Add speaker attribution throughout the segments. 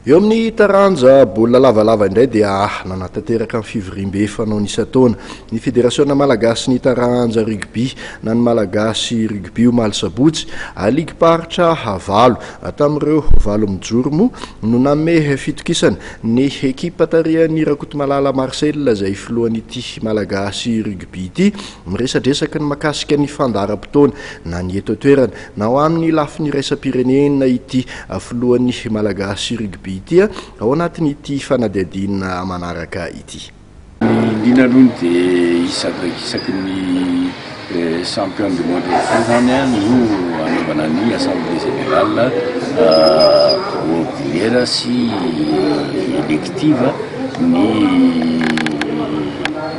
Speaker 1: Eo amin'ny taranja baolina lavalava indray dia nanatanteraka ny fivoriambe fanaony isan-taona ny Federasiona malagasin'ny taranja rugby na ny Malagasy Rugby omaly sabotsy. Ligim-paritra valo tamin'ireo valo mijoro moa no nanome fitokisana ny ekipa tarihan'i Rakotomalala Marcel izay filohan'ity Malagasy Rugby ity. Miresadresaka ny makasika ny fandaharam-potoana na ny eto an-toerana. Na ho amin'ny lafiny iraisam-pirenena ity filohan'ny Malagasy Rugby ity ao anatin'ity fanadihadiana manaraka ity. Ny liana
Speaker 2: aloha ny dia isaky isaky ny champion du monde rehetra izany no hanaovana ny assemblée générale ordinaire sy élective ny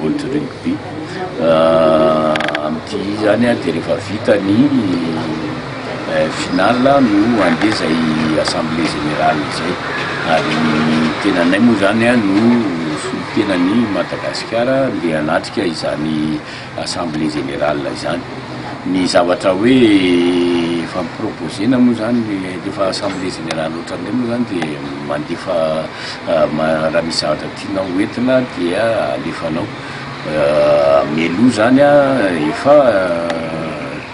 Speaker 2: World Rugby. Amin'ity izany dia rehefa vita ny final no handeha izay assemblée générale izay. Ary ny tenanay moa izany no solontenan'i Madagasikara handeha hanatrika izany assemblée générale izany. Ny zavatra hoe efa mi-proposer-na moa izany rehefa assemblée générale ohatran'izay moa izany dia mandefa raha misy zavatra tianao hoentina dia alefanao. Melo izany efa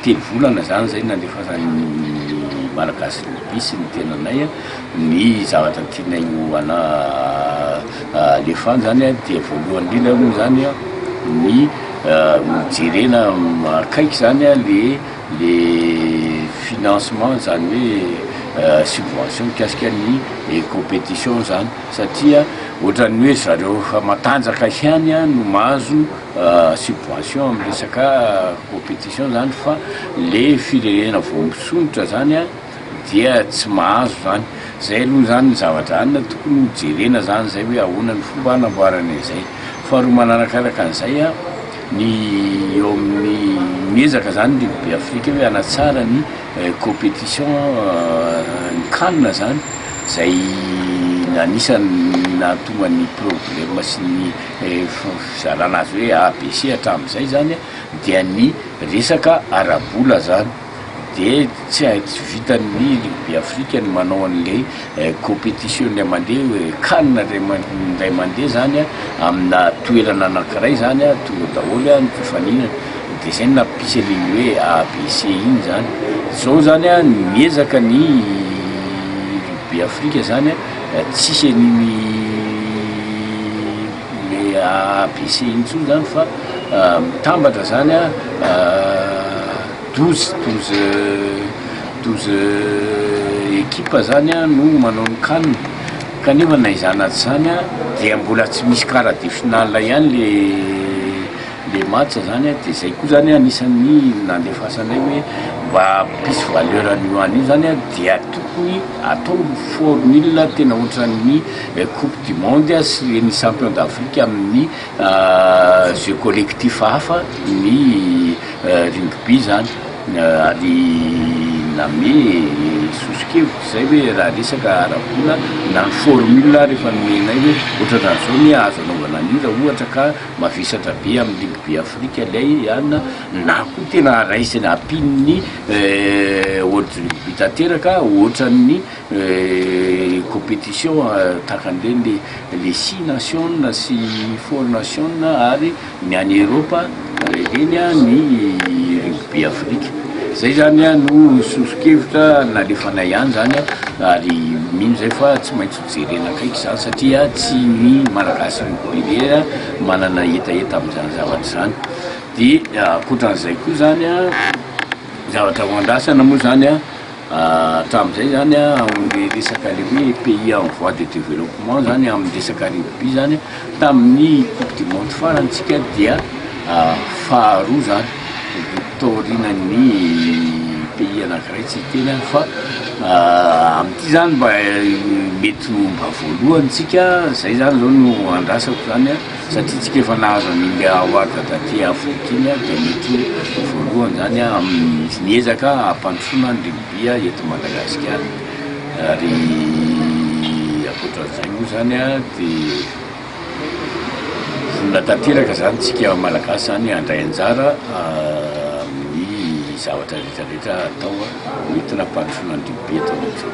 Speaker 2: telo volana izany izay nandefasany Malagasy Rugby sy ny tenanay ny zavatra tianay ho ana alefany izany dia voalohany indrindra aloha izany ny jerena akaiky izany le le financement izany hoe subvention mikasika ny competition izany. satria ohatran'ny hoe zareo efa matanjaka ihany no mahazo subvention amin'ny resaka competition izany fa le firenena vao misondrotra izany dia tsy mahazo izany. Izay aloha izany ny zavatra any no tokony ho jerena izany izay hoe ahoana ny fomba hanamboarana izay. Faharoa manarakaraka an'izay, ny eo amin'ny, miezaka izany ny Ligue Be Afrique hoe hanatsara ny. competition ny can zany izay anisan'ny nahatonga ny problème sy ny fizarana azy hoe A, B, C hatramin'izay izany dia ny resaka ara-bola izany dia tsy vitan'ny rugby afrique ny manao an'ilay Competition indray mandeha io e, can indray mandeha zany a, amina toerana anakiray zany a, tonga daholo a, nifaninana, de zay no nampisy an'iny hoe ABC iny zany, zao zany a miezaka ny rugby Afrika zany a, tsisy an'iny le ABC iny tsony zany fa mitambatra zany a. Douze, douze, douze équipes izany no manao ny can, kanefa na izany na tsy izany dia mbola tsy misy quart de finale ihany ilay match izany, dia izay koa izany anisan'ny nandefasanay hoe mba hampisy valeur an'io an' io izany dia tokony atao formule tena ohatran'ny coupe du monde sy ny champion d'Afrique amin'ny Jeux collectifs hafa ny rugby zany ary name sosokevitra izay hoe raha resaka ara-bola na ny formule ary efa nomenay hoe ohatran'ny zao anie azo anaovana an'io raha ohatra ka mavesatra be amin'ny rugby afrika ilay an na koa tena raisina ampian'ny world rugby tanteraka ohatran'ny Competition tahaka an'ireny les six nations sy four nations ary ny any Eropa ireny ny rugby afrika. Izay izany no sosokevitra nalefanay any izany ary mino izay fa tsy maintsy ho jerena akaiky izany satria tsy ny Malagasy rugby irery manana hetaheta amin'izany zavatra izany. Dia ankoatra an'izay koa izany zavatra ho andrasana moa izany. Hatramin'izay izany amin'ny resaka ilay hoe pays en voie de développement izany amin'ny resaka rugby izany, tamin'ny coupe du monde farantsika dia faharoa izany, taorianan'ny pays anankiray tsy hiteny aho fa amin'ity izany mba mety ho mba voalohany isika, izay izany izao no andrasako izany. Satria tsika efa nahazo an'i India Award taty Afrika iny ary dia mety ho voalohany izany amin'ny ezaka hampandrosoana ny rugby eto Madagasikara. Ary ankoatra an'izay moa izany dia vonona tanteraka izany tsika Malagasy izany handray anjara amin'ny zavatra rehetra rehetra atao entina hampandrosoana ny rugby eto amintsika.